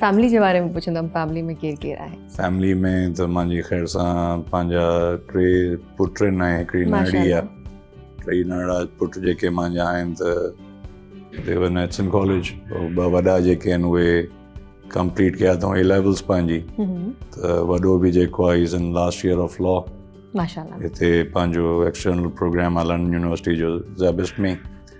family جي باري ۾ پڇندم فيملي ۾ ڪير ڪير آهي فيملي ۾ ته مانجي خير سان پنهنجا ٽي پٽ آهن ۽ هڪڙي نياڻي آهي ٽي نياڻا پٽ جيڪي مانجا آهن ته دي ور نيٽس ان ڪاليج ٻه وڏا جيڪي آهن اهي ڪمپليٽ ڪيا اٿئون اي ليولز پنهنجي ته وڏو به جيڪو آهي is in last year of law ماشاء الله هتي پنهنجو ايڪسٽرنل پروگرام آهي لنڊن يونيورسٽي جو زيبس ۾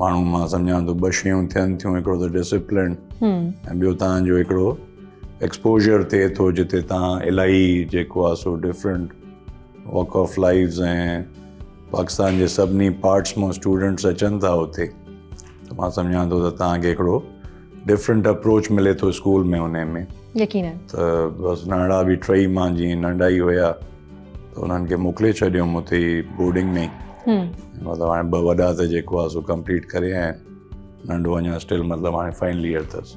ماڻهو مان سمجهان ٿو ٻه شيون ٿين ٿيون هڪڙو ته ڊسپلن ۽ ٻيو تان جو هڪڙو ايڪسپوجر ٿئي ٿو جتي تان الاهي جيڪو آ سو different walk of lifes ۽ Pakistan جي سڀني پارٽس مان اسٽوڊنٽس اچن ٿا اتي ته مان سمجهان ٿو ته تان کي هڪڙو ڊفرنٽ اپروچ ملي ٿو اسڪول ۾ ان ۾ يقينن ته بس ننڍڙا به ٽئي مان جي ننڍا ئي هيا ته انهن کي موڪلي ڇڏيم اتي ئي بورڊنگ ۾ مطلب هاڻي ٻه وڏا ته جيڪو آهي سو ڪمپليٽ ڪري آيا آهن ننڍو اڃا اسٽل مطلب هاڻي فائنل ايئر اٿس